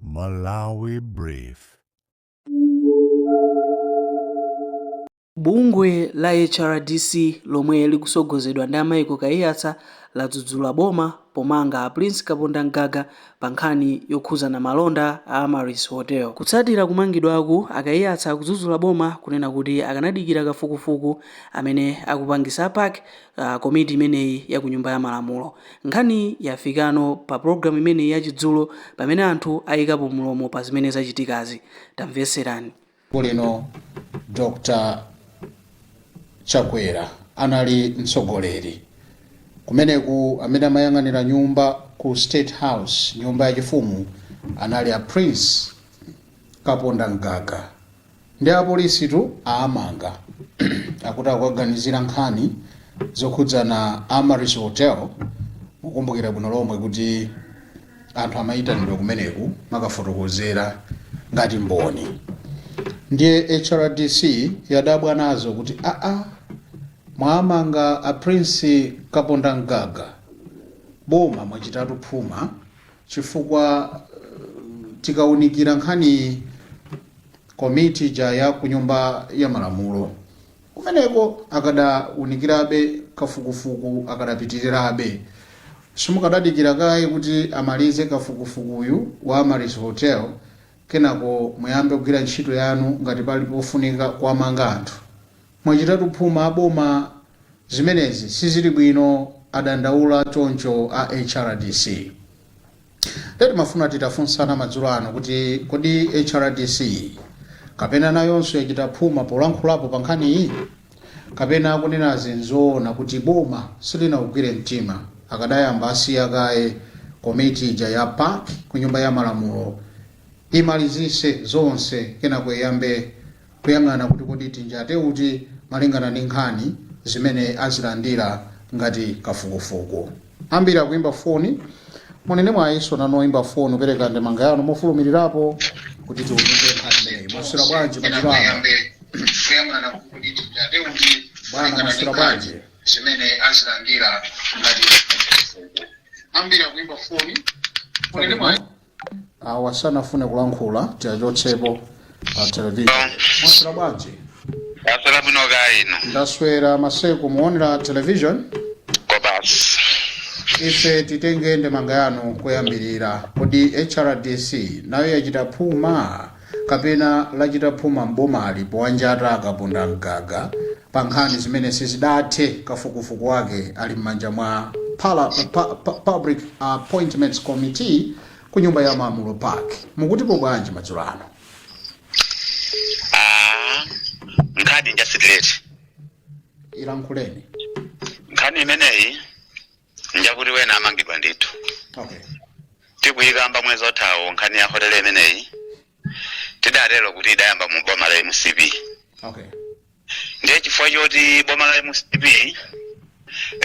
Malawi Brief. Bungwe la HRDC lomwe likusogozedwa ndi a Michael Kaiyatsa ladzudzula boma pomanga a Prince Kapondamgaga pa nkhani yokhuzana malonda a Amaryllis Hotel. Kutsatira kumangidwaku, a Kaiyatsa akudzudzula boma kunena kuti akanadikira kafukufuku amene akupangisa a PAC komiti imeneyi ya ku Nyumba ya Malamulo. Nkhaniyi yafikano pa pulogalamu imeneyi ya chidzulo pamene anthu ayikapo mlomo pa zimene zachitikazi. Tamvetserani. Tsiku lino Dr Chakwera anali mtsogoleri kumeneku amene amayang'anira nyumba ku state house nyumba yachifumu anali a Prince Kapondamgaga. Ndi apolisitu aamanga akuti akuwaganizira nkhani zokhudzana Amaryllis Hotel mukukumbukira bwino lomwe kuti anthu amayitanidwa kumeneku kumakafotokozera ngati mboni ndiye HRDC yadabwa nazo kuti aa mwaamanga a Prince Kapondamgaga boma mwachitatu phuma chifukwa tikaunikira nkhaniyi komiti ija ya kunyumba ya malamulo kumeneko akadaunikirabe kafukufuku akadapitirirabe simukadadikira kaye kuti amalize kafukufukuyu wa Amaryllis Hotel kenako muyambe kugwira ntchito yanu ngati pali pofunika kuwamanga anthu Mwachitatu phuma a boma zimenezi sizili bwino adandaula choncho a HRDC. Ndiye timafuna titafunsana madzulo ano kuti kodi HRDC kapena nayonso yachita phuma polankhulapo pa nkhaniyi? Kapena akunenazi n'zoona kuti boma silinaugwire mtima akadayamba asiya kaye komiti ija ya PAC ku Nyumba ya Malamulo imalizitse zonse kenako iyambe kuyang'ana kuti kodi tinjate uti malingana ndi nkhani zimene azilandira ngati kafukufuku. Ambiri akuimba foni. Muli ndi mwayinso nanu oyimba foni kupereka ndemanga yanu mofulumirirapo kuti tiunikire nkhani imeneyi. Mwaswera bwanji madzulo ano? kuyang'ana kuti kodi tinjate uti Bwana, malingana ndi mwaswera nkhani bwanji? zimene azilandira ngati kafukufuku. Ambiri akuimba foni. Muli ndi mwayi- awa sanafune kulankhula tiachotsepo pa television mwaswera bwanji taswera bwino kaya inu ndaswera maseko muonera television kobasi ife titenge ndemanga yanu koyambirira kodi hrdc nayo yachita phuma kapena lachita phuma m'bomali powanjata a Kaponda Mgaga pa nkhani zimene sizidathe kafukufuku wake ali m'manja mwa Public Appointments Committee ku nyumba ya malamulo PAC mukutipo bwanji madzulo ano? Nkhani njasitireti ilankhuleni. nkhani imeneyi njakuti wena amangidwa ndithu okay tikuyikamba mwezi othawo nkhani ya hotele imeneyi tidatero kuti idayamba mu boma la mcp okay ndiye chifukwa choti boma la mcp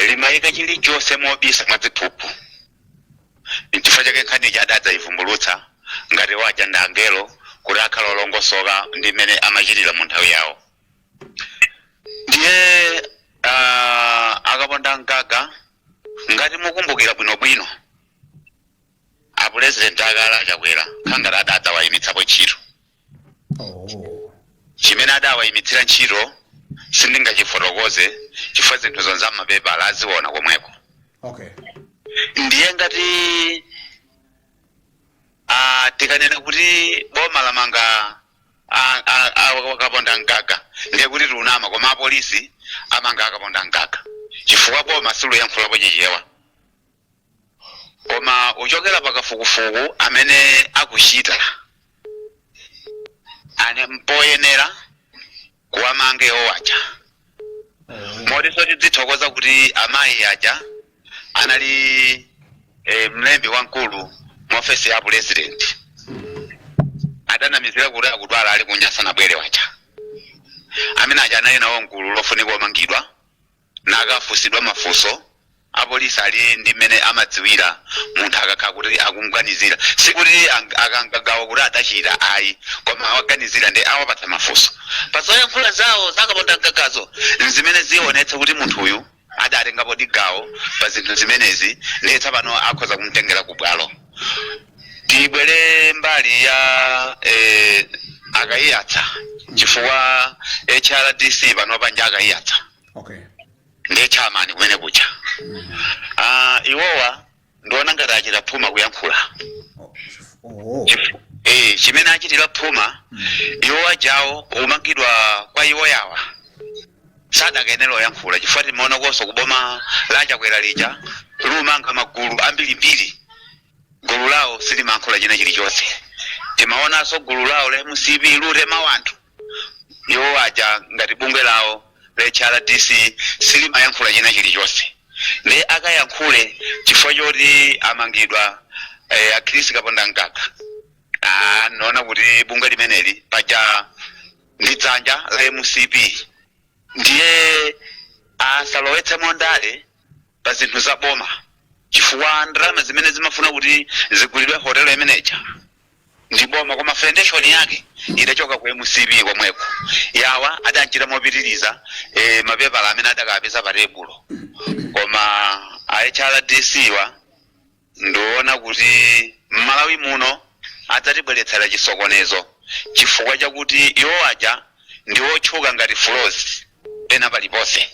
limayika chilichonse mobisa mwadziphuphu nchifukwa chake nkhani ija adadzayivumbulutsa ngati waja ndangelo kuti akhala olongosoka ndi mmene amachitira mu nthawi yawo ndiye ah, a Kaponda Mgaga ngati mukumbukira bwinobwino apulezidenti akale achakwera khangati adadzawayimitsapo ntchito Oh. chimene adawayimitsira ntchito sindingachifotokoze chifukwa zinthu zonse m'mapepala aziona komweko Okay. ndiye ngati ah, tikanena kuti boma lamanga a- a- a- a Kaponda Mgaga ndiye kuti tiunama koma apolisi amanga a Kaponda Mgaga chifukwa boma siluyankhulapo chichewa koma kuchokera pakafukufuku amene akuchita ane mpoyenera kuwamange awaja motinso tidzithokoza kuti amayi aja anali eh, mlembi wamkulu mu ofesi ya president adanamizira kuti akudwala ali kunja sanabwere waja amene aja anali nawo mgulu lofunika omangidwa nakafunsidwa mafunso Apolisi ali ndi mmene amadziwira munthu akakhala kuti akumganizira. Sikuti ang- akatenga gawo kuti adachita ayi, koma awaganizira nde awapatsa mafunso. Pa zoyankhula zawo za a Kaponda Mgagazo nzimene zionetse kuti munthuyu adatengapodi gawo pa zinthu zimenezi ndiye tsapano akhoza kumtengera ku bwalo. Tibwere mbali ya eh, a Kaiyatsa chifukwa HRDC panopa nja a Kaiyatsa. Okay. ndi a chairman kumene kuja ah, iwowa ndiona ngati achita phuma kuyankhula oho Chif- eh, chimene achitira phuma iwo ajawo kumangidwa kwa iwo yawa sadakayenera oyankhula chifukwa timaona konso kuboma la chakwera lija lumanga magulu ambirimbiri gulu lawo silimankhula china chilichonse timaonanso gulu lawo la mcp lutema wanthu iwo aja ngati bungwe lawo la hrdc silimayankhula china chilichonse ndiye akayankhule chifukwa choti amangidwa eh, a chris kapondamgaga Ah, naona kuti bungwe limeneli paja ndi dzanja la mcp ndiye asalowetsemo ndale pa zinthu za boma chifukwa ndalama zimene zimafuna kuti zigulidwe hotelo imeneja ndi boma koma foundation yake idachoka ku mcp komweko yawa adanchita mopitiriza eh, mapepala amene adakapeza pa tebulo koma a hrdc wa ndiona kuti mmalawi muno adzatibweretsera chisokonezo chifukwa chakuti iwo aja ndi otchuka ngati frozy pena paliponse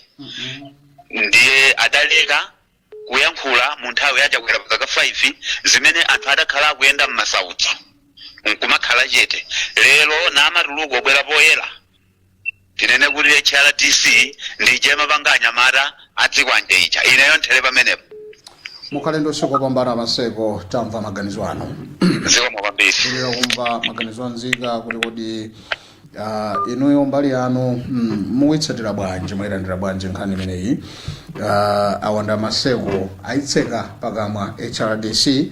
ndiye adaleka kuyankhula mu nthawi ya chakwera pa zaka 5 zimene anthu adakhala akuyenda mmasautso nkumakhala chete lero namatuluka obwera poyera tinene kuti hrdc ndi ija imapanga anyamata azikwanje ija ineyo nthere pamenepo mukhale ndi usiku wopambana maseko tamva maganizo anu zikomo kwambiri kulira kumva maganizo a nzika kuti kodi ah, inuyo mbali yanu mm, mukuitsatira bwanji mwayilandira bwanji nkhani imeneyi Ah, awanda maseko ayitseka pakamwa hrdc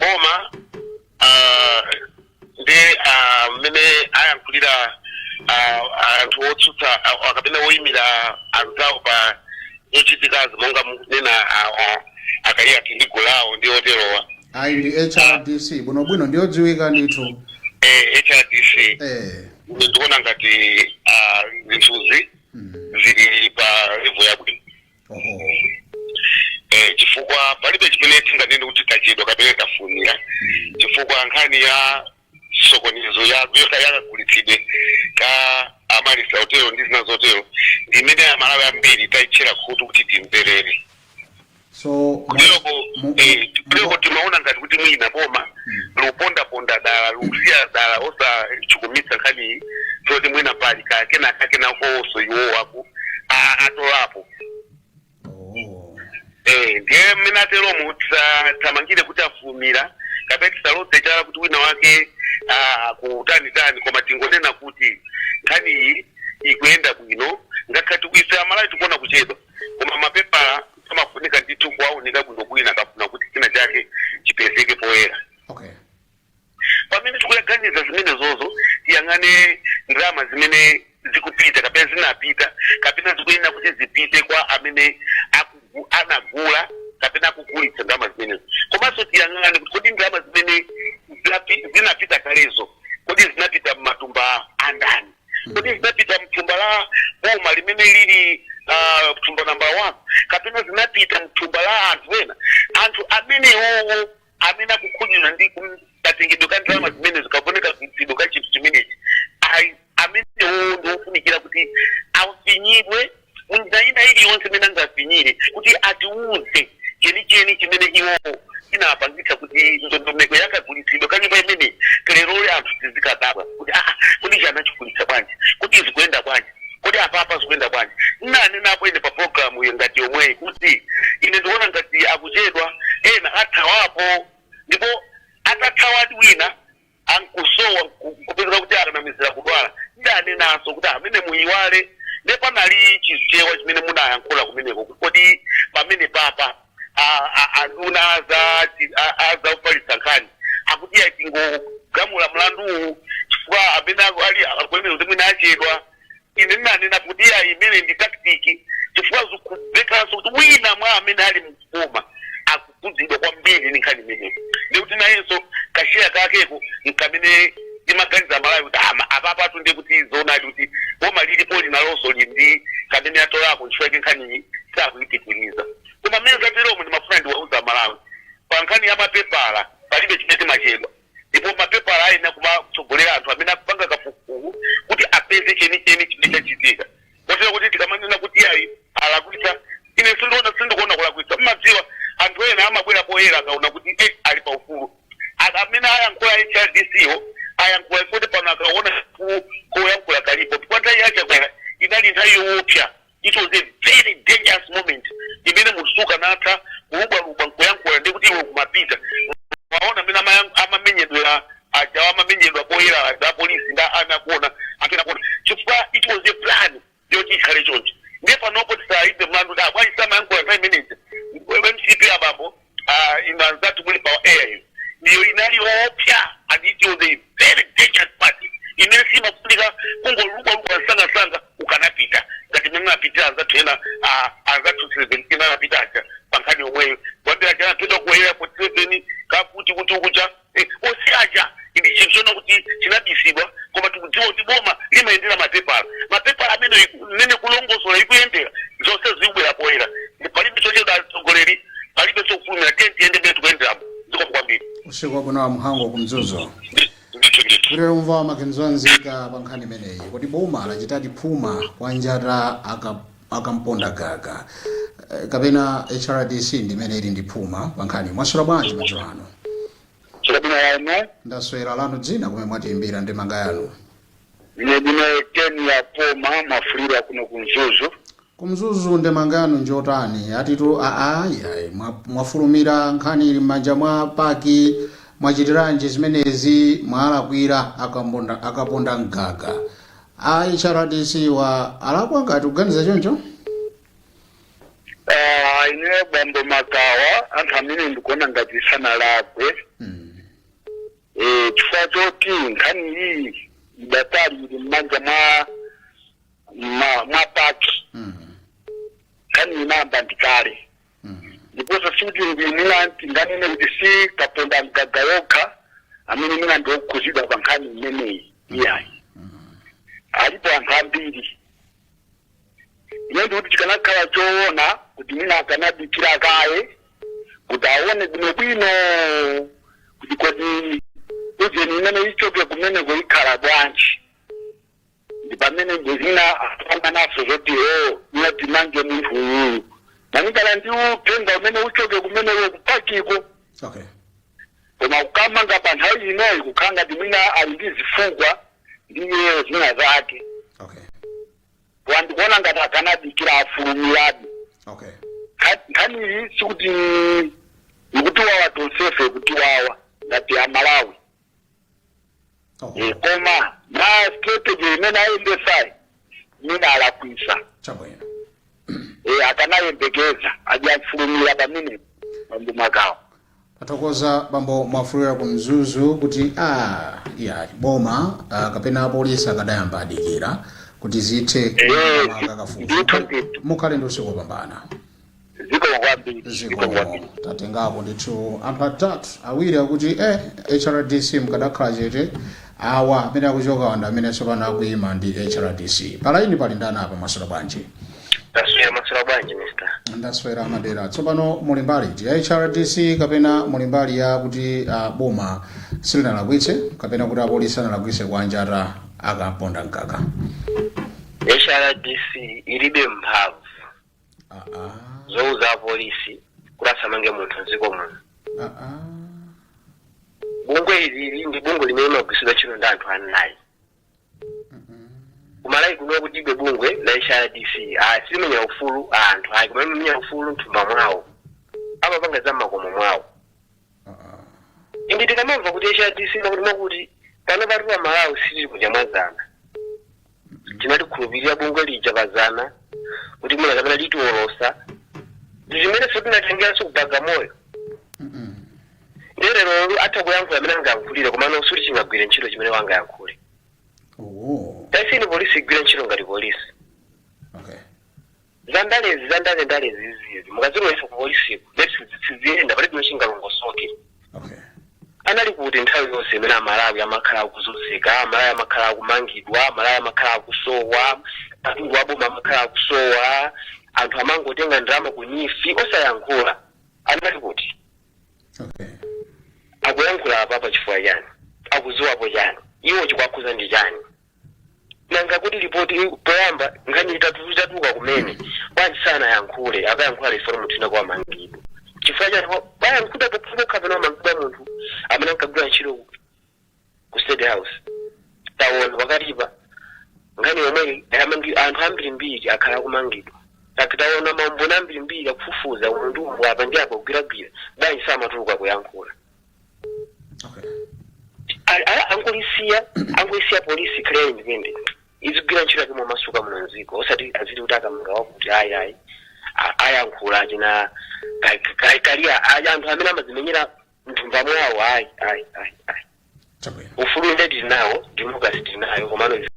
boma ah, ndi ah, mmene ayankhulira ah, anthu otsutsa ah, ah, kapena oyimira anzawo pa zochitikazi monga munena a kaiyatsa ndi gulu lawo ndi oterowa ayi ndi hrdc bwinobwino ndiyodziwika ndithu eh, hrdc eh. ine ndikuona ngati ah, zinthuzi zili pa level yabwino oho eh, chifukwa palibe chimene tinganene kuti tachedwa kapena tafulumira chifukwa nkhani ya chisokonezo ya ya- yakagulitsidwe ka amaryllis hotelo ndi zina zotero ndi imene amalawi ambiri tayitchera khutu kuti timverere so kuloko mu- eh, mu- kuloko timaona ngati kuti mwina boma lupondaponda dala lukusiya dala osachukumitsa nkhani zoti mwina pali ka- kena kakenakoso iwowo aku a- atolapo Oh. Eh, ndiye mmene ateromo tisathamangire kuti afulumira kapena tisaloze chala kuti wina wake ah, akutanitani koma tingonena kuti nkhaniyi ikuyenda bwino ngakhale kuti kwa ife amalawi tikuona kuchedwa koma mapepala amafunika ndithu kuwaunika bwino wina akafuna kuti china chake chipezeke poyera okay pamene tikuyaganiza zimenezozo tiyang'ane ndalama zimene zikupita kapena zinapita kapena zikuyenera kuti zipite kwa amene akugu- anagula kapena akugulitsa ndalama zimenezo komanso tiyang'ane kuti kodi ndalama zimene zinapi- zinapita kalezo kodi zinapita m'matumba andani kodi zinapita mthumba la boma limene lili ah, thumba namba one kapena zinapita mthumba la anthu ena anthu amenewowo amene akukhudzidwa ndi kum- katengedwe ka ndalama zimene zikaoneka kagulitsidwe ka chinthu chimenechi ayi amenewowo ndi ofunikira kuti afinyidwe munjira ina iliyonse imene angafinyire kuti atiuze chenicheni chimene iwowo chinapangitsa kuti ndondomeko yakagulitsidwe ka nyumba imene lerolo anthu tizikadabwa kuti aa kodi chinachigulitsa bwanji kodi zikuyenda bwanji kodi apapa zikuyenda bwanji ndinanenapo ine pa programuyo ngati yomweyi kuti ine ndikuona ngati akuchedwa ena athawapo ndipo adathawadi wina nkusowa nku- nkupezeka kuti akanamizira kudwala ndinanenanso kuti amene musaiwale nde panali chichewa chimene munayankhula kumeneko kuti kodi pamenepapa a- a- anduna aza chi- a- aza kufalitsa nkhani akuti atingogamula mlanduwu chifukwa amene ali akunena kuti mwina achedwa ine ndinanena kuti iyayi imeneyi ndi tactic chifukwa zikumvekanso kuti wina mwa amene ali m'boma akukhudzidwa kwambiri ndi nkhani imeneyi ndikuti nayenso kasheya kakeko nkamene timaganiza aMalawi kuti aa apapatu ndiye kuti zoonadi kuti boma lilipo linonso lili ndi kamene atolako nchifukwa yake nkhaniyi sakuyipitiriza koma mmene zateromu ndimafuna ndiwauze aMalawi pa nkhani ya mapepala palibe chimene timachedwa ndipo mapepala ayenera kumatsogolera anthu amene akupanga kafukufuku kuti apeze chenicheni chimene chachitika kotero kuti tikamanena kuti iyayi alakwitsa ine sindiona sindikuona kulakwitsa mmadziwa anthu ena amabwera poyera akaona kuti eh, ali pa ufulu Aka- amene ayankhula HRDC-wo ayankhula kuti pano akaona ufulu oyankhula kuti poti nthawi ya Chakwera inali nthawi yowopsa it was a very dangerous moment imene munthu sukanatha kulubwalubwa nkuyankhula ndi kuti iwe kumapita waona amene amayan- amamenyedwera aja amamenyedwa poyera aja apolisi ngati akuona amene akuona chifukwa it was a plan yoti ikhale choncho ndiye panopo tisayike mlandu kuti aa bwanji samayankhula nthawi imeneja MCP abambo ah, inu anzathu muli pa air iyo ndiyo inali yoopsa and it was a very dangerous part imene simafunika kungolubwalubwa msangasanga ukanapita ngati mmene anapitira anzathu ena ah, anzathu 17 anapita aja pa nkhani yomweyo awiri aja anaphedwa ku airport 7 akuti kuti ukucha e, onse aja ndi chinthu chona kuti chinabisidwa koma tikudziwa kuti boma limayendera mapepala mapepala amene iku- mmene kulongosola ikuyendera zonse zikubwera poyera Ndi palibe chochedwa atsogoleri palibe chofulumira tiyeni tiyende mmene tikuyenderamu zikomo kwambiri usiku wabwino a Mhango ku Mzuzu Ndi- ndithu ndithu kutiuza maganizo anzika pa nkhani imeneyi kuti boma lachitadi phuma kwanjata aka- akaponda mgaga eh, kapena hrdc ndimene ili ndi phuma pankhani mwaswera bwanji madzulo ano Chakuna yanu ndaswera lanu dzina kumene mwatiimbira ndemanga yanu ine ndine teni ya poma mwafulira kuno kumzuzu kumzuzu ndemanga yanu njotani atitu aa yayi mwa- mwafulumira nkhani ili m'manja mwa paki mwachitiranji zimenezi mwalakwira akaponda akaponda mgaga a hrdc wa alakwa ngati kuganiza choncho Ah, ineyo bambo makawa anthu amene ndikuona ngati sanalakwe Mm. Eh, chifukwa choti nkhani iyi idakali ili mmanja mwa mwa- mwa paki Mm. nkhani inayamba ndi kale ndiponso sikuti mwina tinganene kuti si kaponda mgaga yokha amene mwina ndi okhuzidwa pa nkhani imeneyi iyayi alipo anthu ambiri ine ndikuti chikanakhala choona kuti mwina akanadikira kaye kuti aone bwinobwino kuti kodi ujeni imene ichoke kumeneko ikhala bwanji ndi pamene mwina akupanga naso zoti o iye timange munthu uyuyu malinga ndi uthenga umene uchoke kumeneko kupakiko okay koma kukamanga pa nthawi inoyi kukhala ngati mwina ali ndi zifukwa ndi iyeyo zina zake okay koma ndikuona ngati akanadikira afulumiradi okay Nkha- nkhani iyi sikuti ikutiwawa tonsefe ikutiwawa ngati amalawi Oh, Eh, koma ma strategy imene ayendesayi mwina alakwisa chabwino Eh, akanayembekeza aja afulumira pamenepa bambo makawa tathokoza bambo mwafulira ku mzuzu kuti iyayi boma ah, kapena apolisi akadayamba adikira kuti zithe Eh, akakafufuka ndithu ndithu. mukhale ndi usiku wopambana zikomo kwambiri zikomo zikomo kwambiri tatengako ndithu anthu atatu awiri akuti eh, hrdc mukadakhala chete awa amene akuchokawa ndi amene tsopano akuyima ndi hrdc palaini pali ndani apa mwaswera bwanji tasiya mwaswera bwanji mister ndaswera amadera tsopano muli mbali iti ya hrdc kapena muli mbali ya kuti uh, boma silinalakwitse kapena kuti apolisi sanalakwitse kuwanjata akaponda mgaga hrdc ilibe mphamvu Ah, ah, zouza apolisi kuti asamange munthu mdziko muno ah, ah. bungwe ilili ndi bungwe limene limagwiritsidwa ntchito ndi anthu anayi kumalawi kuno kuti ibe bungwe la hrdc ah, silimenyera ufulu wa anthu ayi koma limenyera ufulu mthumba mwawo amapanga za mmakomo mwawo indi tikamamva kuti hrdc makuti makuti pano pati pa malawi sitili kudya mwazana tinatikhulupirira bungwe lija pazana kuti mwina kapena litiwolotsa ndizimenenso tinatengeranso ku Bagamoyo nde lero atha kuyankhula amene angayankhulire komano sikuti chingagwire ntchito chimene angayankhule Oh, taisiyeni polisi igwire ntchito ngati polisi okay. Zandalezi zandalendalezi izi mukazilowetsa ku polisiko nde zinthu siziyenda palibe chomwe chingalongosoke. Okay. Anali kuti nthawi yonse imene amalawi amakhala akuzunzika, amalawi amakhala akumangidwa, amalawi amakhala akusowa, katundu wa boma amakhala akusowa, anthu amangotenga ndalama ku NEEF osayankhula. Anali kuti Okay. akuyankhula apa pa chifukwa chani? Akudziwapo chani? Iwo chikuwakhudza ndi chani? nanga kodi lipoti poyamba nkhani itatu- itatuluka kumene bwanji sanayankhule akayankhula reform tina kwa mangidwe chifukwa chani ayankhulapo chifukwa pano wamangidwa munthu amene ankagwira ntchito ku- ku state house tawona pakatipa nkhani yomweyi ayamangi anthu ambirimbiri akhala akumangidwa Like tawona maumboni ambirimbiri akufufuza munthu apa ndi apo kugwiragwira bwanji samatuluka kuyankhula A- a- angolisiya angolisiya polisi ikhale independent izigwira ntchito yake momasuka muno mdziko osati aziti kuti akamanga wakuti ayi ayi a- ayankhula achina ka- ka- kalia ayi anthu amene amazimenyera mthumba mwawo ayi ayi ayi ayi chabwino ufulu inde tili nawo democracy tili nayo komano izi-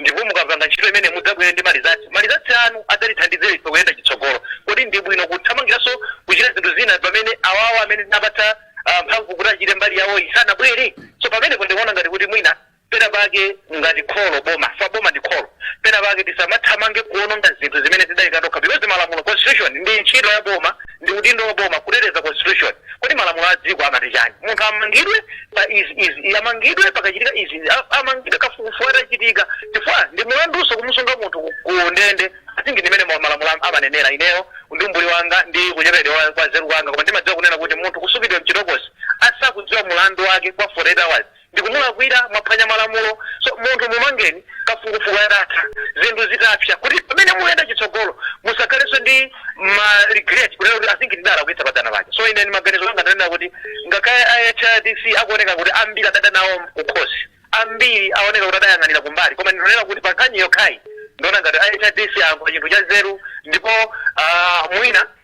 Ndipo mukapanga ntchito imeneyi mudzabwere ndi malizatsi. Malizatsi anu adzatithandizira ife kuyenda chitsogolo. Kodi ndi bwino kuthamangiranso kuchita zinthu zina pamene awawa amene tinawapatsa ah, mphamvu kuti achite mbali yawoyi sanabwere? So pamenepo ndikuona ngati kuti mwina pena pake ngati kholo boma fa boma ndi kholo pena pake tisamathamange kuononga zinthu zimene tidaika tokha because malamulo constitution ndi ntchito ya boma Ndi udindo wa boma kuteteza constitution. Kodi malamulo a dziko amati chani? Munthu amangidwe pa izi, izi, izi, amangidwe pakachitika izi, izi, a- amangidwe kafukufuku atachitika. Chifukwa ndi mulandunso kumusunga munthu ku- ku ndende. I think ndi mmene malamulo am- amanenera ineyo ndi umbuli wanga ndi kuchepekedwa kwa nzeru kwanga koma ndimadziwa kunena kuti munthu kusungidwa mchitokosi asakudziwa mulandu wake kwa 48 hours ndikumulakwira mwaphwanya malamulo so munthu mumangeni kafukufuku atatha zinthu zitapsa kuti pamene muyenda chitsogolo musakhalenso ndi ma regret kunena kuti I think tidalakwitsa padzana paja so ine ndimaganizo anga ndanena kuti ngakhale a hrdc akuoneka kuti ambiri adada nawo kukhosi ambiri aoneka kuti adayang'anira kumbali koma ndinonena kuti pankhani yokhayi ndiona ngati a hrdc ayankhula chinthu cha nzeru ndipo ah, mwina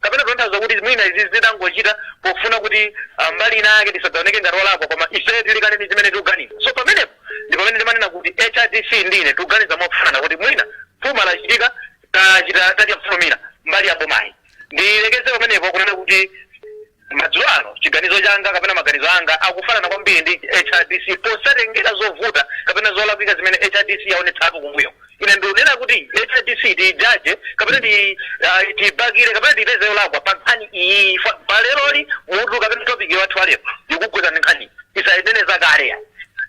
kapena kutanthauza kuti mwina izi zidangochitika pofuna kuti ah, mbali ina yake tisadzaoneke ngati olakwa koma ife tili kale ndi zimene tikuganiza so pamenepo ndi pamene ndimanena kuti hrdc ndi ine tikuganiza mofanana kuti mwina phuma lachitika tachita kufulumira mbali ya bomayi ndilekeze pamenepo kunena kuti madzulo ano chiganizo changa kapena maganizo anga akufanana kwambiri ndi hrdc posatengera zovuta kapena zolakwika zimene hrdc yaonetsapo kumbuyo ine ndikunena kuti hrdc tiijaje kapena ti- ah, tiibakire kapena tiipeze yolakwa pa nkhani iyi pa leroli mutu kapena topiki wathu walero ikugwirizana ndi nkhani osanena zakalezo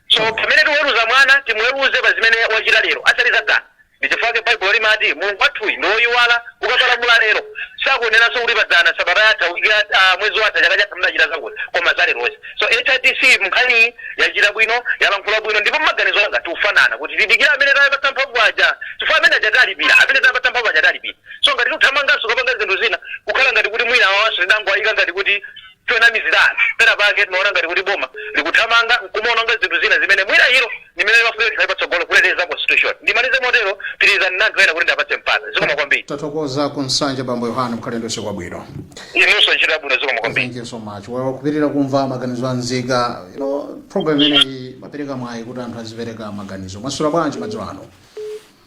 so pamene tiweruza mwana timuweruze pa zimene wachita lero osati zadzana ndichifukwa baibulo limati mulungu wathuyu ndi woyiwala ukapalamula lero sakunenanso kuti padzana sabata yatha wiki yatha, ah, mwezi watha chaka chatha mnachita zakuti koma zalerozi so hrdc mnkhaniyi yachita bwino yalankhula bwino ndipo maganizo anga tikufanana kuti tidikire amene tapatsa mphamvu aja chifukwa amene aja tawalipira amene tawapatsa mphamvu aja tawalipira so ngati tikuthamanganso kukapanga zinthu zina kukhala ngati kuti mwina awawanso tidangowayika ngati kuti chonamizira anthu pena pake timaona ngati kuti boma likuthamanga nkumaononga zinthu zina zimene mwina ilo ndi limene limafunika likhale patsogolo kuteteza constitution ndimalize motero pitirizani ndi anthu ena kuti ndiwapatse mpata zikomo kwambiri tathokoza ku nsanje bambo yohane mukhale ndi usiku wabwino inunso ntchito yabwino zikomo kwambiri thank you so much well kupitiriza kumva maganizo a nzika you know program imeneyi imapereka mwayi kuti anthu azipereka maganizo mwaswera bwanji madzulo ano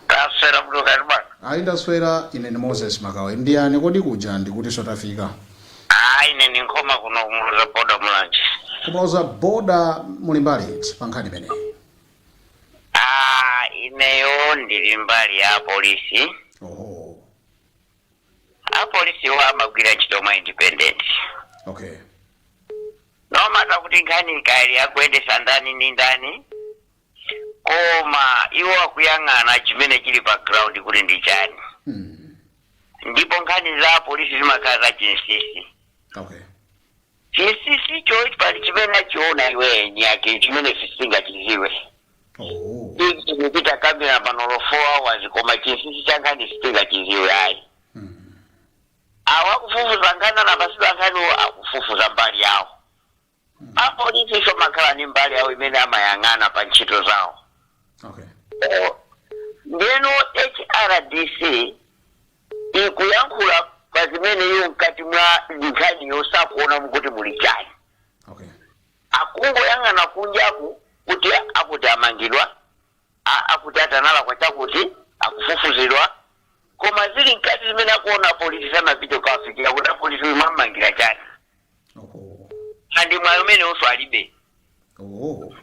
Taswera bwino kaya inu bwana? Ayi ndaswera, ine ndi Moses Makawa. Inu ndi ndani? Kodi kuja ndikutinso tafika? Aaa ine ndi Nkhoma kuno ku Muloza Boda Mulanje. Ku Muloza Boda muli mbali iti pa nkhani imeneyi? Aaa ineyo ndili mbali ya apolisi. Oho, Apolisiwo amagwira ntchito mwa independent. okay. Nomatter kuti nkhani kaya akuyendesa ndani ndi ndani. koma iwo akuyang'ana chimene chili pa ground kuti ndi chani Mm. ndipo nkhani za polisi zimakhala za chinsisi Okay. chinsisicho pali chimene achiona iwo eni ake chimene sitingachiziwe Oh. ikupita kamera panolo 4 hours koma chinsisi cha nkhani sitingachiziwe ayi Mm. awa akufufuza nkhani anapasidwa nkhani akufufuza mbali yawo apolisinso amakhala ni mbali yawo imene amayang'ana pa ntchito zawo okay ndeno hrdc ikuyankhula pa zimene iyo mkati mwa nkhaniyo sakuonamo kuti muli chani okay akungoyang'ana kunjaku kuti akuti amangidwa a- akuti atani alakwa chakuti akufufuzidwa koma zili mkati zimene akuona apolisi sanapite kukawafikira kuti apolisi uyu mwamangira chani oho andi mwayi umenewonso alibe oho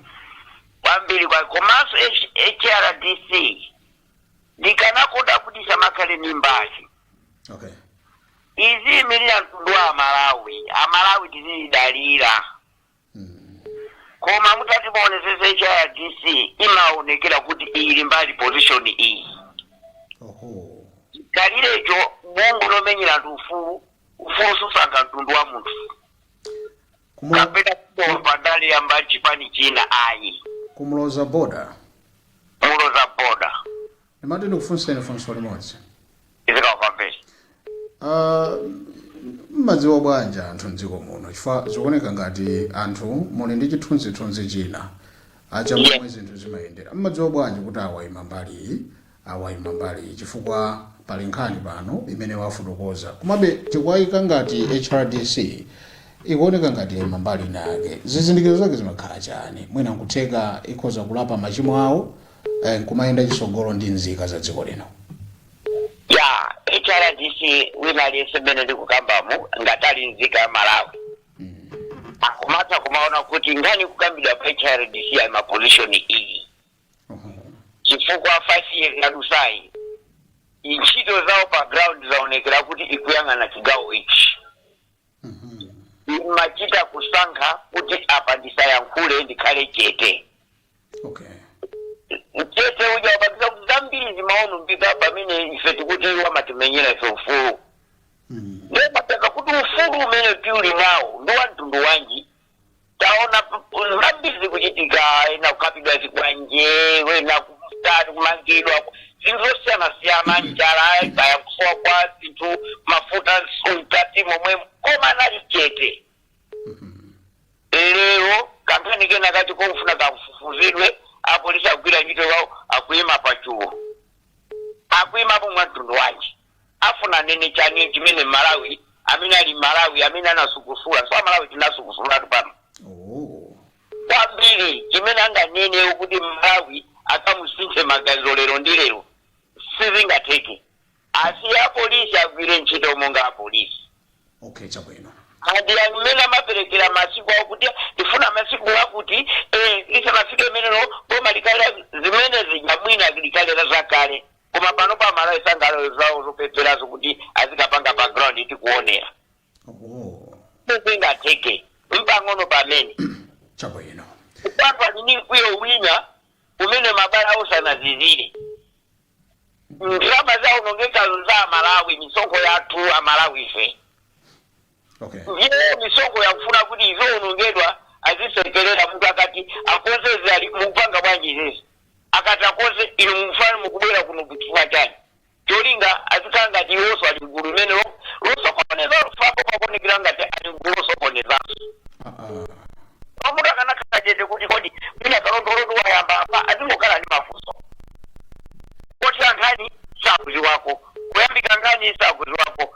kwambiri kwa komanso H- hrdc ndikanakonda kuti samakhale ndi mbali okay izi imirira mtundu wa amalawi amalawi tizidalira mm. koma mutati muonesese hrdc imaonekera kuti ili mbali position iyi oho kalikiliki bungwe lomenyera anthu ufulu ufulu susankha mtundu wa munthu Kumu- kapena wa mbali ya chipani china ayi kumuloza boda muloza boda ndimati ndikufunseni funso limodzi Isaac Kwapambeni Ah, mmadziwa bwanji anthu mdziko muno chifukwa zikuoneka ngati anthu muli ndi chithunzithunzi china chake cha momwe zinthu zimayendera mmadziwa bwanji kuti awaima mbali iyi awayima mbali iyi chifukwa pali nkhani pano imene wafotokoza komabe tikuwayika ngati hrdc ikuoneka ngati yayima mbali ina yake zizindikiro zake zimakhala chani mwina nkutheka ikhoza kulapa machimo awo eh, nkumayenda chisogolo ndi nzika za dziko lino a hrdc wina aliyense mmene ndikukambamu ngati ali nzika ya malawi akumatha kumaona kuti nkhani kukambidwa kwa hrdc ali maposition iyi chifukwa 5 years yadutsayi ntchito zawo pa ground zaonekera kuti ikuyang'ana chigawo ichi imachita kusankha kuti apa ndisayankhule ndikhale chete okay mchete uja wapangisa kuti zambiri zimaonongeka pamene ife tikuti iwo amatimenyera ife ufulu Mm. nde pamakhala kuti ufulu umene tiuli nawo ndi wa mtundu wanji taona zambiri zikuchitika ena kukapidwa zikwanje wena kutatu kumangidwa zinthu zosiyanasiyana njala kaya kusowa kwa zinthu mafuta mkati momwe koma anali chete lero kankhani kena kati kofuna kakufufuzidwe apolisi akugwira ntchito yawo akuyima pachulu akuyima pomwe mtundu wanji afuna anene chani chimene mmalawi amene ali mmalawi amene anasukusula chifukwa malawi tinasukusulatu pano Oh. kwambiri chimene anganene kuti mmalawi akamusinthe maganizo lero ndi lero sizingatheke asiye apolisi agwire ntchito monga apolisi Okay, chabwino. andi amene amaperekera masiku awo kuti tifuna masiku akuti eh, lisanafike limenelo boma likhale zimenezi ya mwina likanena zakale koma pano pa malawi sangala zawo zopeperazo kuti azikapanga pa ground tikuonera oh sizingatheke mpang'ono pomwe chabwino kuphatikiza mkwiyo wina umene mabala awo sanazizire ndalama zaonongekazo za amalawi misonkho yathu amalawi fe okay ndiye misonkho yakufuna kuti izionongeka azisekerera munthu akati akonze za- mukupanga bwanji izizi akati akonze inu mukufuna mukubwera kuno chifukwa chani cholinga azikhala ngati iwonso ali mgulu limene lo- losokoneza apo pakuonekera ngati ali mgulu losokonezanso Ah, ah. pamunthu akanakhala chete kuti kodi mwina kalondolondo wayamba apa azingokhala ndi mafunso kotha nkhani sakuziwako kuyambika nkhani sakuziwako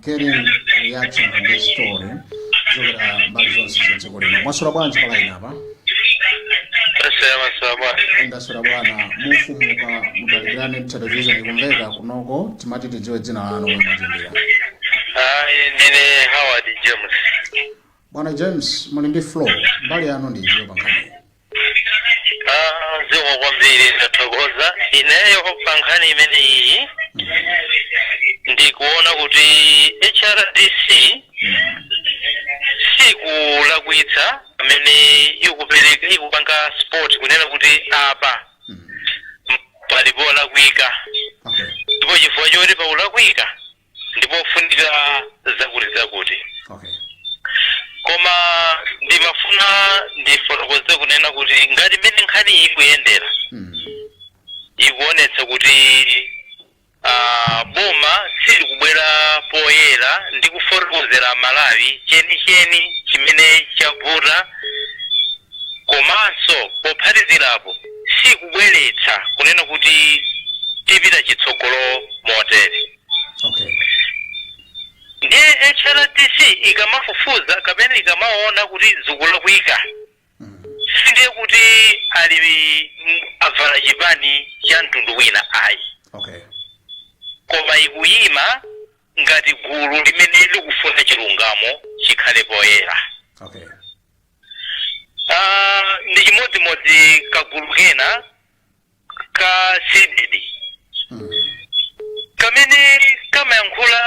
getting reaction on this story kuchokera mbali zonse za dziko lino mwaswera bwanji palaini apa ndaswera bwana mufumuka mutalikirane ndi television ikumveka kunoko timati tidziwe dzina lanu komwe mukuimbira ndine howard james bwana james muli ndi floor mbali yanu ndi iti pankhani Ah, zikomo kwambiri ndathokoza ineyo pa nkhani imeneyi ndikuona kuti hrdc sikulakwitsa pamene ikupereka ikupanga spot kunena kuti apa pali polakwika Okay. ndipo chifukwa choti pakulakwika ndipofunika zakutizakuti okay koma ndimafuna ndifotokoze kunena kuti ngati mmene nkhani iyi ikuyendera mm. ikuonetsa kuti ah, boma silikubwera poyera ndi kufotokozera amalawi chenicheni chimene chavuta komanso pophatikizirapo sikubweretsa kunena kuti tipita chitsogolo motere okay ndiye hrdc ikamafufuza kapena ikamaona kuti zikulakwika sindiye kuti ali m- avala chipani cha mtundu wina ayi okay koma ikuyima ngati gulu limene likufuna chilungamo chikhale poyera okay Ah, ndi chimodzimodzi kagulu kena ka cdedi kamene kamayankhula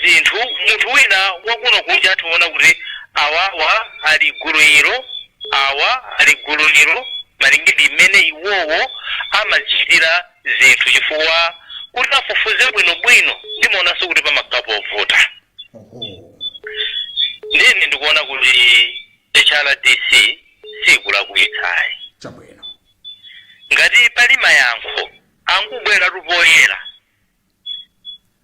zinthu munthu wina wakuno kunja atha kuona kuti awawa ali gulu ilo awa ali gulu ilo malinga ndi mmene iwowo amachitira zinthu chifukwa kuti afufuze bwinobwino ndimaonanso kuti pamakhala povuta oho ndiye ine ndikuona kuti hrdc sikulakwitsa ayi chabwino ngati pali mayankho angobweratu poyera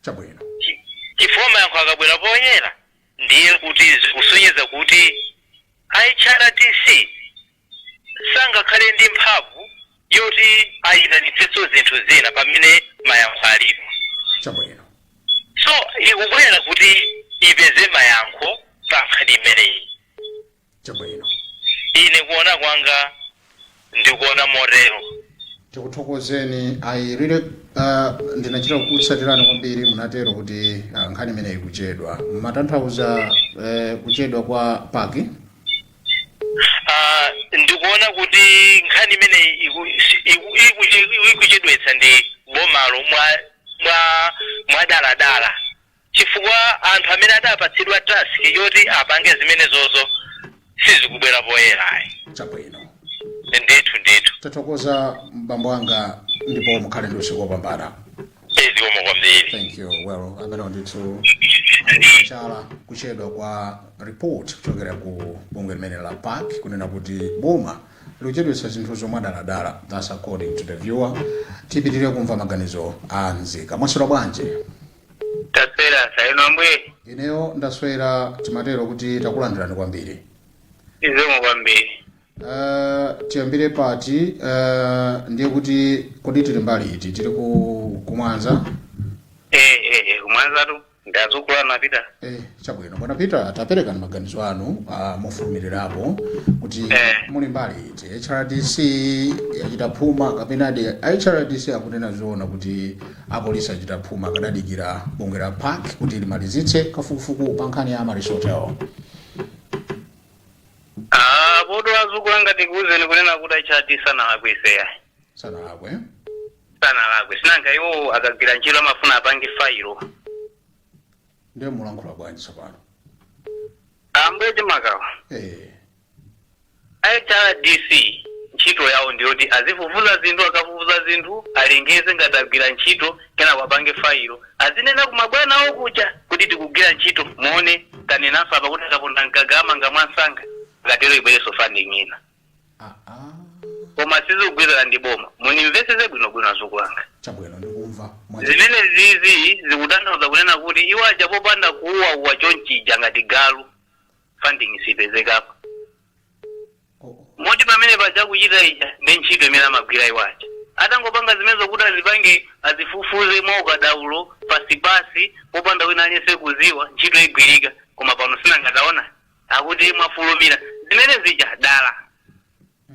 chabwino Chi- chifukwa mayankho akabwera poyera ndiye kuti zikusonyeza kuti hrdc sangakhale ndi mphamvu yoti ayitanitsenso zinthu zina pamene mayankho alipo chabwino so ikubwera kuti ipeze mayankho pa nkhani imeneyi chabwino ine kuona kwanga ndikuona motero tikuthokozeni ayirire uh, ndinachita kukutsatirani kwambiri munatero kuti uh, nkhani imeneyi kuchedwa mumatanthauza uh, kuchedwa kwa pac Ah, ndikuona kuti nkhani imeneyi iku- iku- ikuche- ikuchedwetsa ndi bomalo mwa mwa mwadaladala chifukwa anthu amene adapatsidwa task yoti apange zimenezozo sizikubwera poyera ayi chabwino ndithu ndithu tathokoza bambo anga ndipo mukhale ndi usiku wopambana Eh, zikomo kwambiri thank you well amene ndithu chala kuchedwa kwa report kuchokera ku bungwe limene la pac kunena kuti boma likuchedwetsa zinthuzo mwadaladala thats according to the viewer tipitirire kumva maganizo a nzika mwaswera bwanji taswera za inu ambuye ineyo ndaswera timatero kuti takulandirani kwambiri zikomo kwambiri Uh, tiyambire pati uh, ndiye kuti kodi tili mbali iti tili ku kumwanza eh eh eh kumwanzatu azukulu anga peter eh, chabwino bwana peter taperekani maganizo anu uh, mofulumirirapo kuti Eh. muli mbali iti hrdc yachita phuma kapenadi hrdc akunena zoona kuti apolisi achita phuma akadadikira bungwe la pac kuti limalizitse kafukufuku pa nkhani ya amaryllis hotel Ah, apotu azukulu anga tikuuzeni kunena kuti hrdc sanalakwitse ayi sanalakwe sanalakwe sinanga iwo akagwira ntchito amafuna apange fayilo ndiye mulankhula bwanji tsopano ambuye chimakawa eh hrdc ntchito yawo ndiyoti azifufuza zinthu akafufuza zinthu alengeze ngati agwira ntchito kenako apange fayilo azinena ku mabwana awo kuja kuti tikugwira ntchito muone tanenanso apa kuti akaponda mgaga amanga mwansanga akatero ibwerenso funding ina koma sizikugwirizana ndi boma munimvesese bwinobwino azukulu anga chabwino ndikumva mwa- zimene izizi zikutanthauza kunena kuti iwo aja popanda kuuwauwa chonchija ngati galu funding sipezekapo moti pamene paja kuchita ija ndi ntchito imene amagwira iwo aja atangopanga zimenezo kuti azipange azifufuze mwa ukadaulo pasipasi popanda wina aliyense kuziwa ntchito igwirika koma pano sinangataona akuti mwafulumira zimene zija dala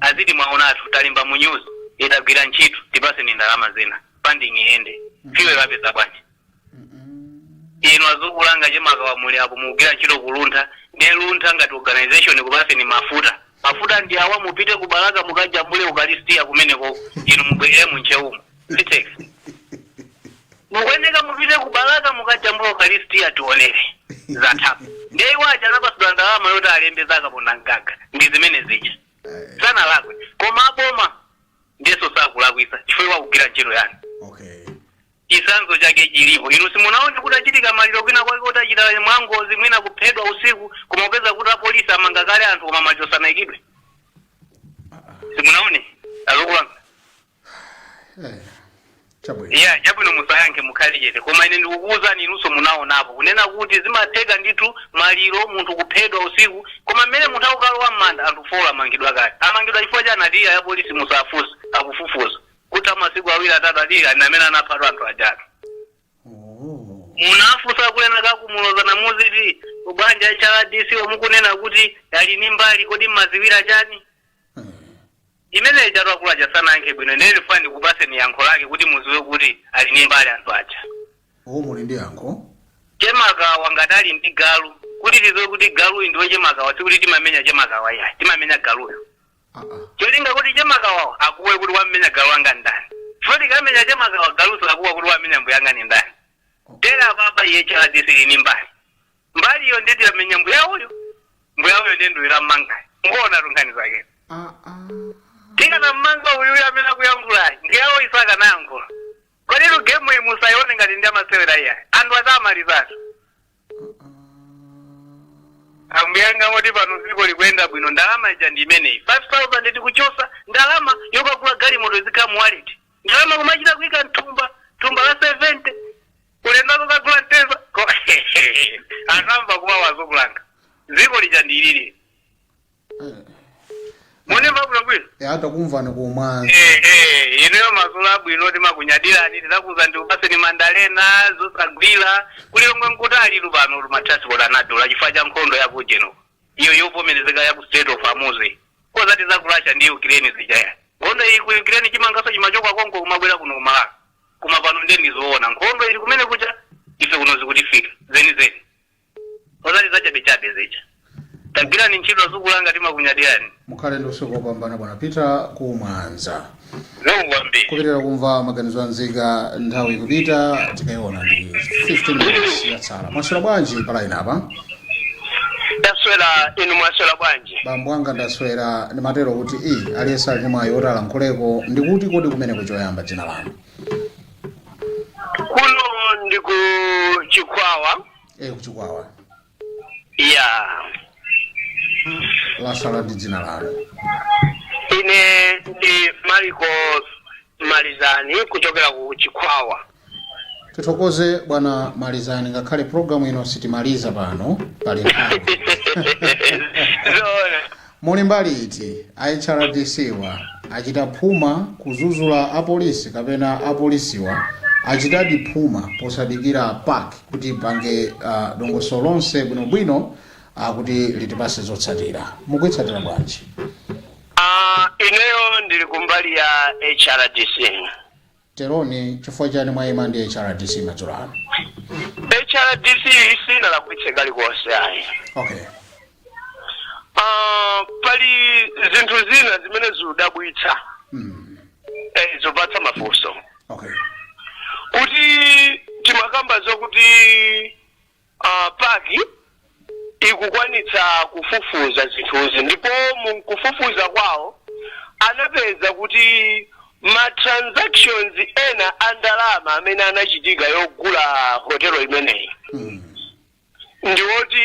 Aziti mwaonatu talemba mu news e tagwira ntchito tipaseni ndalama zina funding iyende fuel apeza bwanji inu azukulanga chemakawa muli apo mukugwira ntchito kuluntha ndiye luntha ngati organization kupaseni mafuta mafuta ndi awa mupite ku balaka mukajambule ukalistia kumeneko inu mubwerere mu Ntcheumo Vitex. Mukuyeneka mupite ku Balaka mukajambula Ukaristia tionere zathapo. Ndiye iwo aja anapatsidwa ndalama yoti alembe za kapona mgaga ndi zimene zija. Sanalakwe. Koma aboma ndiyeso sakulakwisa chifukwa akugwira ntchito yani. okay chisanzo chake chilipo inu simunaone kutachitika maliro kwina kwake kutachita mwangozi mwina kuphedwa usiku koma kupeza kuti apolisi amanga kale anthu koma machosanaikidwe simunaone azukulanga Eh, chabwino yeah chabwino musayankhe mukhale chete koma ine ndikukuwuzani inunso munaonapo kunena kuti zimatheka ndithu maliro munthu kuphedwa usiku koma mmene munthu akukalowa m'manda anthu folo amangidwa kale amangidwa chifukwa chani ati ya apolisi musafuse akufufuza kutha masiku awiri atatu ati ani amene anaphatu anthu ajatu Oh. munafusa kunena kakumuloza na muziti bwanji a HRDC mukunena kuti ali ni mbali kodi mmaziwira chani imene ijatu akulu aja sanayankhe bwino ndiye ndifuna ndikupaseni yankho lake kuti muziwe kuti ali ndi mbali anthu aja o muli ndi yankho chemakawa ngati ali ndi galu kuti tiziwe kuti galuyi ndi wa chemakawa sikuti timamenya chemakawa iyayi timamenya galuyo aa cholinga kuti chemakawa akuwe kuti wamenya galu wanga ndani chifukwa tikamenya chemakawa galu sakuwa kuti wamenya mbuyanga ni ndani tere apapa HRDC ili ni mbali mbaliyo ndeti yamenya mbuya uyo mbuya uyo ndiye nduyira mmangayo ngona tunkhani zake Ah, ah. tikanammanga uyuyo amene akuyankhulayi mbuyawo sakanayankhula koditu gemu iyi musayione ngati ndi ya masewera iyayi anthu adamalizatu ambuyanga moti pano dziko likuyenda bwino ndalama ija ndi imeneyi 5000 tikuchosa ndalama yokagula galimoto zikhala mu wallet ndalama kumachita kuika mthumba thumba la 70 ulendo kukagula mteza Ko- anamva kuwawa azukulanga dziko lija ndilili mune mabwino bwino eya takumvani kumwanza Eh, eh, ineyo mazulo abwino timakunyadirani tizakuza ndikupaseni mandalena zosagwira kulilongwe nkutalitu panotu matransport anadula chifukwa cha nkhondo ya kujeno iyo yovomerezeka ya ku Strait of Hormuz osati za ku russia ndi ukraine zija ayi nkhondo iyi ku ukraine chimangaso chimachoka konko kumabwera kuno kumalawi koma pano nde ndizoona nkhondo ili kumene kuja ife kuno zikutifika zenizeni osati zachabechabe zija tagwirani ntchito azukulanga timakunyadirani Mukhale ndi usiku wopambana bwana Peter ku Mwanza. Zikomo kwambiri. Kupitira kumva maganizo a nzika nthawi ikupita tikaiona ndi 15 minutes yatsala. Mwaswera bwanji pa laini apa? Ndaswera inu mwaswera bwanji? Bambo anga ndaswera ndimatero kuti i aliyense ali ndi mwayi woti alankhuleko ndikuti kodi kumeneko choyamba dzina lanu. Kuno ndi ku Chikwawa. Eh kuchikwawa. ya lasala ndi dzina lanu ine ndi Mariko Malizani kuchokera ku Chikhwawa tithokoze bwana Malizani ngakhale programu ino sitimaliza pano pali nthawi zoona Muli mbali iti? A HRDC-wa achita phuma kuzuzula a polisi kapena a polisiwa achitadi phuma posadikira PAC kuti ipange dongosolo lonse bwinobwino kuti litipatse zotsatira? Mukuitsatira bwanji? Ineyo ndili kumbali ya HRDC. Teroni, chifukwa chani mwaima ndi HRDC madzulo ano? HRDC sinalakwitse kalikonse ayi. Okay. Ah, pali zinthu zina zimene zikudabwitsa Mm. eh, zopatsa mafunso Okay. kuti timakamba zokuti uh, PAC ikukwanitsa kufufuza zinthuzi ndipo mukufufuza kwawo anapeza kuti ma transactions ena a ndalama amene anachitika yogula hotelo imeneyi ndiwoti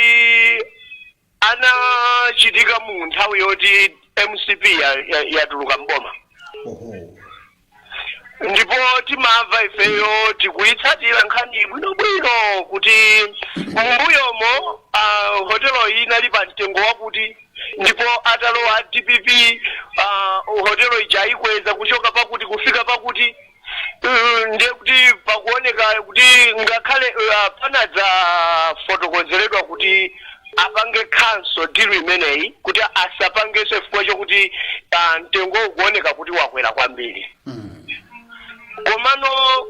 anachitika mu nthawi yoti MCP ya- ya- yatuluka mboma oho ndipo timamva ifeyo tikuyitsatira nkhani bwinobwino kuti m'mbuyomo uh, hotelo iyi inali pa mtengo wakuti ndipo atalowa a DPP uh, hotelo ija ayikweza kuchoka pakuti kufika pakuti Eh, ndiye kuti pakuoneka kuti ngakhale eh, panadzafotokozeredwa kuti apange cancel deal imeneyi kuti asapangenso chifukwa chokuti ah, mtengo ukuoneka kuti wakwera kwambiri Mm. komano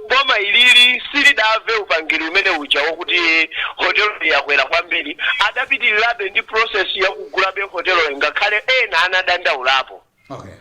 boma ilili silidamve upangiri umene uja wokuti hotelo yakwera kwambiri adapitirirabe ndi process yakugulabe hotelo ngakhale ena anadandaulapo Okay.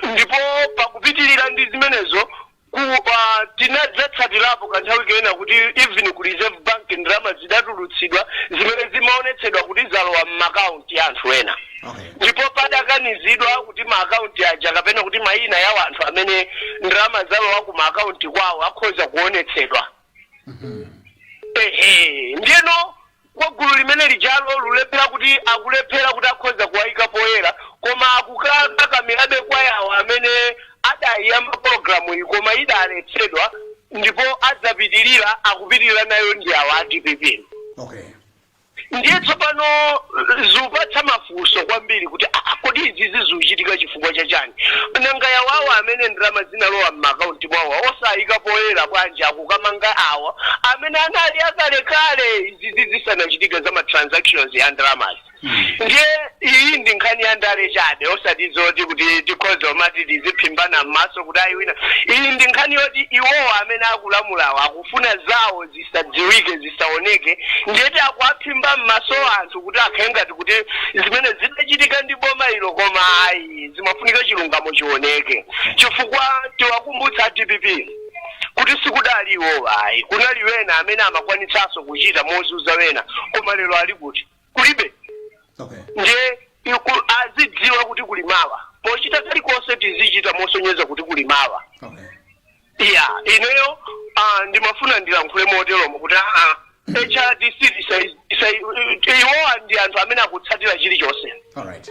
ndipo pakupitirira ndi zimenezo ku uh, tinadzatsatirapo kanthawi kena kuti even ku Reserve Bank ndalama zidatulutsidwa zimene zimaonetsedwa kuti zalowa m'maakaunti ya anthu ena okay ndipo padakanizidwa kuti maakaunti aja kapena kuti mayina ya anthu amene ndalama zalowa ku maakaunti kwawo akhoza kuonetsedwa ehe ndiyeno kwa gulu limene lijalo lulephera kuti akulephera kuti akhoza kuwayika poyera koma akukakakamirabe kwa yawo amene adayiyamba pologalamuyi koma idaletsedwa ndipo adzapitirira akupitirira nayo ndi awo a dpp okay ndiye tsopano zikupatsa mafunso kwambiri kuti "Ah, ah, kodi izizi zikuchitika chifukwa cha chani nanga ya awo amene ndalama zinalowa m'maakaunti mwawo osayika poyera bwanji akukamanga awa amene anali akalekale izizi zisanachitike za ma transactions ya ndalamazi ndiye iyi ndi nkhani ya ndale chabe osati zoti kuti tikhoza kumati tiziphimbana m'maso kuti ayi wina iyi ndi nkhani yoti iwowa amene akulamulawa aku kufuna zawo zisadziwike zisaoneke ndiyeti akuwaphimba m'maso anthu kuti akhale ngati kuti zimene zidachitika ndi boma ilo koma ayi zimafunika chilungamo chioneke chifukwa tiwakumbutsa dpp kuti sikudali iwowa ayi kunali wena amene amakwanitsanso kuchita mozunza wena koma lero ali kuti kulibe okay ndiye azidziwa kuti kuli mawa pochita kalikonse tizichita mosonyeza kuti kuli mawa okay ya ineyo ah, ndimafuna ndilankhule moteromo kuti aa hrdc isa- isa- iwowa ndi anthu amene akutsatira chilichonse alright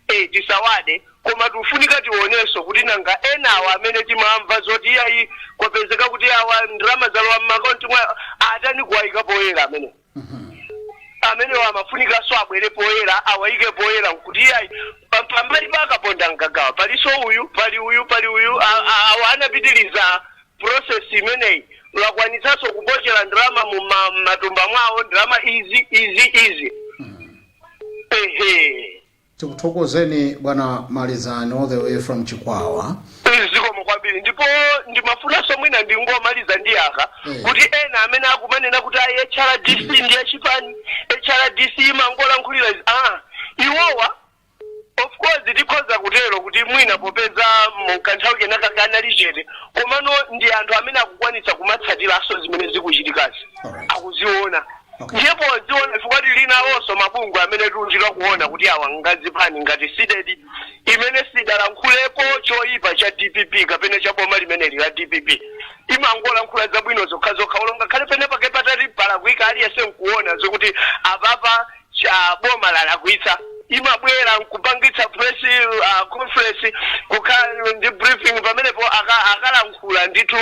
eh, tisawade koma tifunika tionenso kuti nanga enawa amene timamva zoti iyayi kwapezeka kuti awa ndalama zalowa m'makaunti mwawo atani kuwayika poyera amene amenewo amafunikanso abwere poyera awayike poyera kuti iyayi pa- pambali pa a Kaponda Mgaga palinso uyu pali uyu pali uyu a- a- awa anapitiriza process imeneyi akwanitsanso kupokera ndalama mu ma- m'matumba mwawo ndalama izi izi izi ehe Tikuthokozeni bwana Malizani all the way from Chikwawa. Please, zikomo kwambiri ndipo ndimafunanso mwina ndingomaliza ndi yakuti Eh. kuti ena amene akumanena kuti ayi hrdc ndi yachipani hrdc imangolankhulira izi ah iwowa of course tikhoza kutero kuti mwina popeza mu kanthawi kenaka anali chete komano ndi anthu amene akukwanitsa kumatsatiranso zimene zikuchitikazi Alright. akuziona Okay. ndiye poziona chifukwa tili nawonso mabungwe amene tikuchita kuona kuti awa nga zipani ngati cdedi imene sidalankhulepo choyipa cha dpp kapena cha boma limeneli la dpp imangolankhula zabwino zokhazokha olo ngakhale penapake patati palakwika aliyense nkuona zokuti apapa cha boma lalakwitsa imabwera nkupangitsa press uh, conference kukhala ndi briefing pamenepo aka- akalankhula ndithu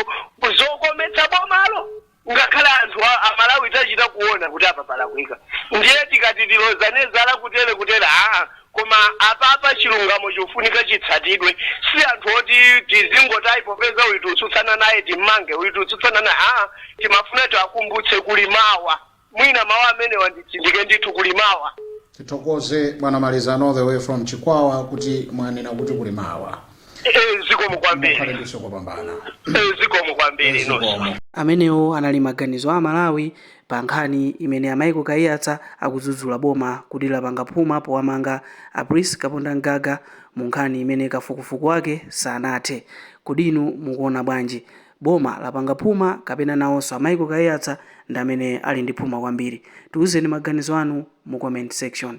zokometsa bomalo ngakhale anthu amalawi tachita kuona kuti apa palakwika ndiye tikati tilozane zala kutere kutere aa koma apapa chilungamo chikufunika chitsatidwe si anthu oti tizingoti ayi popeza uyu tikutsutsana naye timmange uyu tikutsutsana naye aa timafuna tiwakumbutse kuli mawa mwina mawu amenewa nditsindike ndithu kuli mawa tithokoze bwana malizani all the way from chikwawa kuti mwanena kuti kuli mawa Eh, zikomo mukhale kwambiri ndinso kopambana Eh, zikomo kwambiri inonso zikomo amenewo anali maganizo a amalawi pa nkhani imene a michael kaiyatsa akudzudzula boma kuti lapanga phuma powamanga a prince kapondamgaga mu nkhani imene kafukufuku wake sanathe kodi inu mukuona bwanji Boma lapanga phuma kapena nawonso a Michael Kaiyatsa ndi amene ali ndi phuma kwambiri? Tiuzeni maganizo anu mu comment section.